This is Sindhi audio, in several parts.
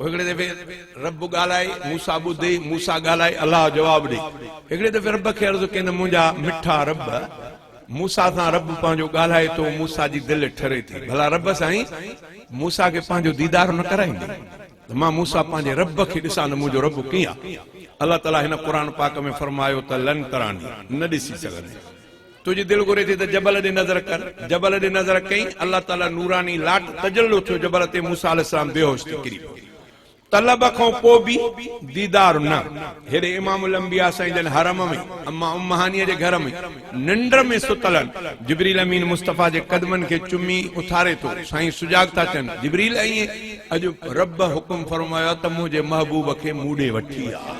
هڪڙي دفعي رب ڳالهائي، موسيٰ ٻڌي، موسيٰ ڳالهائي، الله جواب ڏي. هڪڙي دفعي رب کي عرض ڪين منهنجا مٺا رب! موسيٰ سان رب پنهنجو ڳالهائي ٿو، موسيٰ جي دل ٺري ٿي. ڀلا رب سائين! موسيٰ کي پنهنجو ديدار نه ڪرائيندي ته مان موسيٰ پنهنجي رب کي ڏسان ته منهنجو رب ڪيئن آهي؟ الله تعاليٰ هن قرآن پاڪ ۾ فرمايو ته لن تراني، نه ڏسي سگهندين. تنهنجي دل گهري ٿي ته جبل ڏي نظر ڪر. جبل ڏي نظر ڪئين. الله تعاليٰ نوراني لاٽ تجلو ٿيو جبل تي موسيٰ عليه السلام بيهوش ٿي ڪري پيو. طلب کان پوء به ديدار نه. هيڏي امام الانبياء سائين جن حرم ۾ اما ام هانيء جي گهر ۾ ننڊ ۾ ستل آهن. جبريل امين مصطفيٰ جي قدمن کي چمي اٿاري ٿو. سائين سجاڳ ٿا ٿين. جبريل ائين؟ اڄ رب حڪم فرمايو آهي ته منهنجي محبوب کي مون ڏي وٺي آ.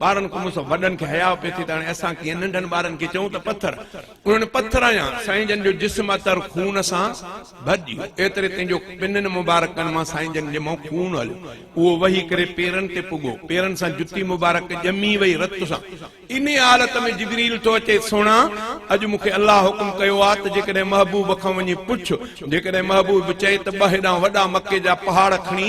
ٻارن کان مون سان وڏن کي حياء پئي ٿي ته هاڻي اسان ڪيئن ننڍن ٻارن کي چئون ته پٿر انهن پٿر هنيان سائين جن جو جسم عطر خون سان ڀرجيو ايتري تائين جو پنن مبارڪن مان سائين جن جي منهن خون هليو اهو وهي ڪري پيرن تي پڳو پيرن سان جتي مبارڪ ڄمي وئي رت سان انهي حالت ۾ جبريل ٿو اچي سهڻا اڄ مون کي الله حڪم ڪيو آهي ته جيڪڏهن محبوب کان وڃي پڇ جيڪڏهن محبوب چئي ته ٻه هيڏانهن وڏا مڪي جا پهاڙ کڻي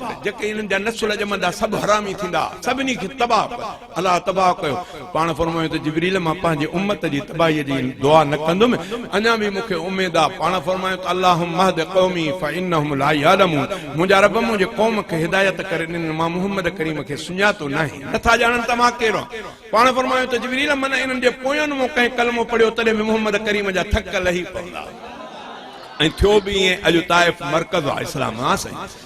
ته جيڪي هنن جا نسل ڄمندا سڀ حرامي ٿيندا سڀني کي تباهه ڪر الله تباهه ڪيو پاڻ فرمايو ته جبريل مان پنهنجي امت جي تباهي جي دعا نه ڪندم اڃا به مون کي اميد آهي پاڻ فرمايو ته اللهم اهد قومي فانهم لا يعلمون منهنجا رب منهنجي قوم کي هدايت ڪر انهن مان محمد ڪريم کي سڃاتو ناهي نٿا ڄاڻن ته مان ڪير آهيان پاڻ فرمايو ته جبريل من انهن جي پوين مون ڪنهن ڪلمو پڙهيو تڏهن به محمد ڪريم جا ٿڪ لهي پوندا ۽ ٿيو به ائين اڄ طائف مرڪز آهي اسلام ها سائين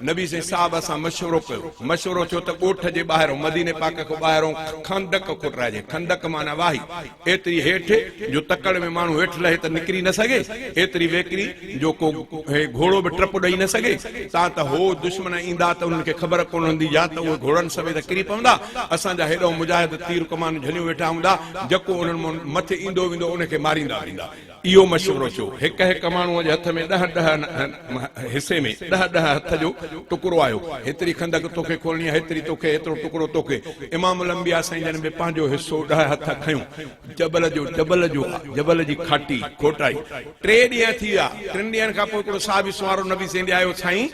نبي سائين صاحب سان مشورو ڪيو، مشورو ٿيو ته ڳوٺ جي ٻاهرئون، مديني پاڪ کان ٻاهرئون خندق کوٽرائجي، خندق معنيٰ واهي، ايتري هيٺ جو تڪڙ ۾ ماڻهو هيٺ لهي ته نڪري نه سگهي، ايتري ويڪري جو ڪو گهوڙو به ٽپ ڏئي نه سگهي، تان ته هو دشمن ايندا ته انهن کي خبر ڪونه هوندي يا ته اهي گهوڙن سميت ڪري پوندا، اسان جا هيڏئون مجاهد تير ڪمان جهليون ويٺا هوندا، جڪو انهن مان مٿي ايندو ويندو انهي کي ماريندا ويندا. اهو مشورو ٿيو. هڪ هڪ ماڻهوء جي هٿ ۾ ڏهه ڏهه حصي ۾ ڏهه ڏهه هٿ جو ٽڪرو آيو. هيتري خندق توکي کولڻي آهي، هيتري توکي، هيترو ٽڪرو توکي. امام الانبياء سائين جن به پنهنجو حصو ڏهه هٿ کنيو. جبل جو جبل جو آ، جبل جي کاٽي، کوٽائي. ٽي ڏينهن ٿي ويا. ٽن ڏينهن کان پوء هڪڙو صحابي سنوارو نبي سين ڏي آيو، سائين!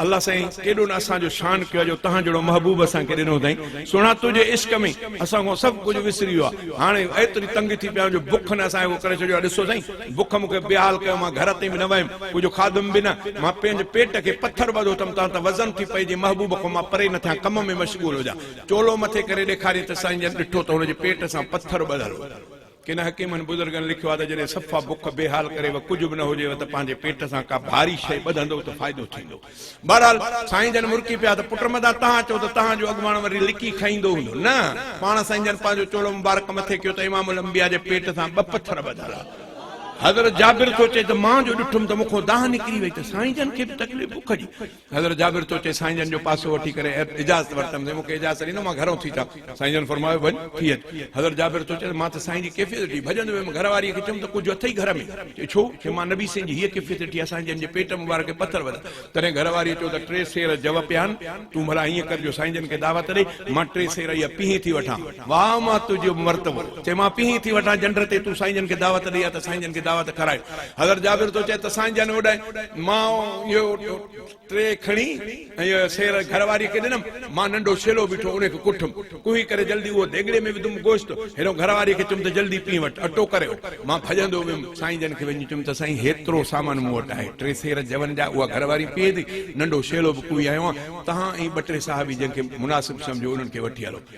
الله سائين ڪيڏو نه اسان جو شان ڪيو آ جو تهان جهڙو محبوب اسان کي ڏنو اٿائين سهڻا تنهنجي عشق ۾ اسان کان سڀ ڪجهه وسري ويو آ هاڻي ايتري تنگ ٿي پيا آهيون جو بک نه اسان کي ڪو ڪري ڇڏيو آ ڏسو سائين بک مون کي بيحال ڪيو مان گهر تائين به نه ويم ڪجهه کاڌم به نه مان پنهنجي پيٽ کي پٿر ٻڌو اٿم تان ته وزن ٿي پئي جي محبوب کان مان پري نه ٿيان ڪم ۾ مشغول هجان چولو مٿي ڪري ڏيکاريائين ته سائين جن ڏٺو ته هن جي پيٽ سان پٿر ٻڌل هو. ڪن حڪيمن بزرگن لکيو آهي ته جڏهن صفا بک بي حال ڪري و ڪجهه به نه هجيو ته پنهنجي پيٽ سان ڪا ڀاري شيء ٻڌندؤ ته فائدو ٿيندو. بهرحال سائين جن مرڪي پيا ته پٽ مدان تهان چئو ته تهان جو اڳواڻ وري لڪي کائيندو هوندو نه! پاڻ سائين جن پنهنجو چولو مبارڪ مٿي ڪيو ته امام الانبياء جي پيٽ سان ٻه پٿر ٻڌل آهن. حضرت جابر ٿو چئي ته مان جو ڏٺم ته مون کان دانهن نڪري وئي ته سائين جن کي به تڪليف بک جي حضرت جابر چيو، چي سائين جن جو پاسو وٺي ڪري اجازت ورتم سائين مون کي اجازت ڏنو مان گهرئون ٿي چاڪ سائين جن فرمايو وڃ ٿي اچ حضرت جابر چيو، چي مان ته سائين جي ڪيفيت ڏٺي ڀڄندو ويم گهر واري کي چيم ته ڪجهه اٿئي گهر ۾؟ چي ڇو؟ چي مان نبي سائين جي هيء ڪيفيت ڏٺي آهي سائين جن جي پيٽ مبارڪ کي پٿر وڌا تڏهن گهر واريء چيو ته ٽي سير جوء پيا آهن تون ڀلا هيئن ڪر جو سائين جن کي دعوت ڏي مان ٽي سير اهي پيهي ٿي وٺان. واهه مان تنهنجو مرتبو. چيمانس پيهين ٿي وٺان جنڊ تي، تون سائين جن کي دعوت ڏئي ها ته سائين جن کي دعوت کارائي. حضرت جابر ٿو چئي ته سائين جن اوڏانهن مان اهو ٽري کڻي ۽ اهو سير گهر واريء کي ڏنم. مان ننڍو شيلو بيٺو ان کي ڪٺم. ڪوهي ڪري جلدي اهو ديڳڙي ۾ وڌم گوشت. هيڏهو گهر واريء کي چيم ته جلدي پيهين وٺ، اٽو ڪري اهو. مان ڀڄندو ويم. سائين جن کي وڃي چيم ته سائين هيترو سامان مون وٽ آهي. ٽي سير جون جا اها گهر واري پيهي ٿي. ننڍو شيلو به ڪوهي آيو آهيان. تهان ۽ ٻه ٽي صحابي جن کي مناسب سمجهو انهن کي وٺي هلو.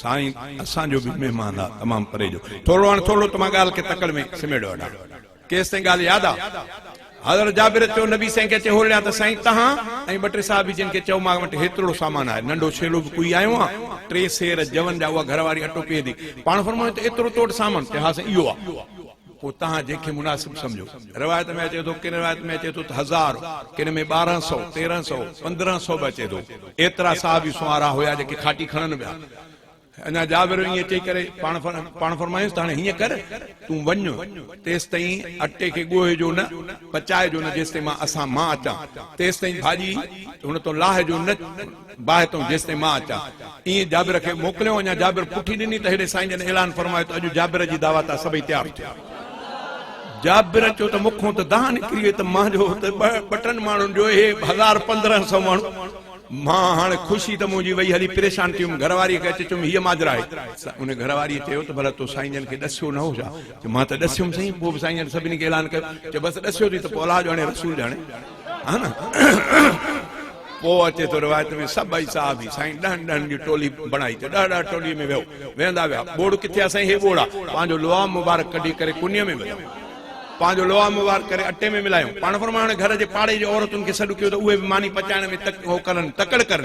سائين اسان جو به مهمان آ تمام پري جو ٿورڙو هاڻ ٿورڙو ته مان ڳالهه کي تڪڙ ۾ سميڙيو آ ڏاڍو ڪيس تائين ڳالهه ياد آ حضرت جابر چيو نبي سائين کي اچي هولڙيا ته سائين تهان ۽ ٻه ٽي صحابي جن کي چئو مان وٽ هيترڙو سامان آهي ننڍو ڇيلو به ڪوئي آيو آ ٽي سير جون جا اها گهر واري اٽو پيهي ٿي پاڻ فرمايو ته ايترو تو وٽ سامان چي ها سائين اهو آ پوء توهان جنهن کي مناسب سمجهو. روايت ۾ اچي ٿو، ڪن روايت ۾ اچي ٿو ته هزار، ڪن ۾ ٻارهن سؤ، تيرهن سؤ، پندرهن سؤ به اچي ٿو. ايترا صحابي سنوارا هيا جيڪي کاٽي کڻن پيا. اڃا جابر ائين چئي ڪري پاڻ فرمايائينس ته هاڻي هيئن ڪر، تون وڃ، تيستائين اٽي کي ڳوهيجو نه، پچائجو نه، جيستائين مان اسان مان اچان، تيستائين ڀاڄي هن تان لاهجو نه. باهه تون جيستائين مان اچان. ائين جابر کي موڪليو اڃا جابر پٺي ڏني ته هيڏي سائين جن اعلان فرمايو ته اڄ جابر جي دعوت آ سڀئي تيار ٿيو. جابر چيو ته مونکون ته دانهن نڪري وئي ته مان جو ته ٻه ٽن ماڻهن جو اهي به هزار پندرهن سئو ماڻهو. مان هاڻي خوشي ته منهنجي وئي هلي پريشان ٿي ويم گهرواريء کي اچي چيم هيء ماجرا آهي. ان گهرواريء چيو ته ڀلا تو سائين جن کي ڏسيو نه هو ڇا؟ چيو مان ته ڏسيم سائين. پوء به سائين جن سڀني کي اعلان ڪيو. چيو بس ڏسيو ٿي ته پوء الله ڄاڻي رسول ڄاڻي. پوء اچي ٿو روايت ۾ سڀئي صحابي سائين ڏهن ڏهن جي ٽولي بڻائي ته ڏهه ڏهه ٽولي ۾ ويهو ويهندا ويا ٻوڙ ڪٿي آ سائين هي ٻوڙ آ پنهنجو لعاب مبارڪ ڪڍي ڪري ڪنيء ۾ وڌو پنهنجو لعاب مبارڪ ڪري اٽي ۾ ملايو پاڻ فرمايو هاڻي گهر جي پاڙي جي عورتن کي سڏ ڪيو ته اهي به ماني پچائڻ ۾ تڪ هو ڪرن تڪڙ ڪرن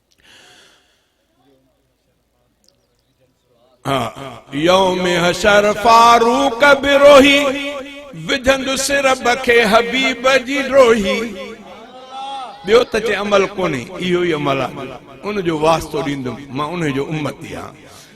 يوم حشر فاروق بروهي وجهند سر بکي حبيب جي ڊوهي ٻيو ته چي عمل ڪونهي اهو ئي عمل آهي ان جو واسطو ڏيندم مان انهي جو امتي آهيان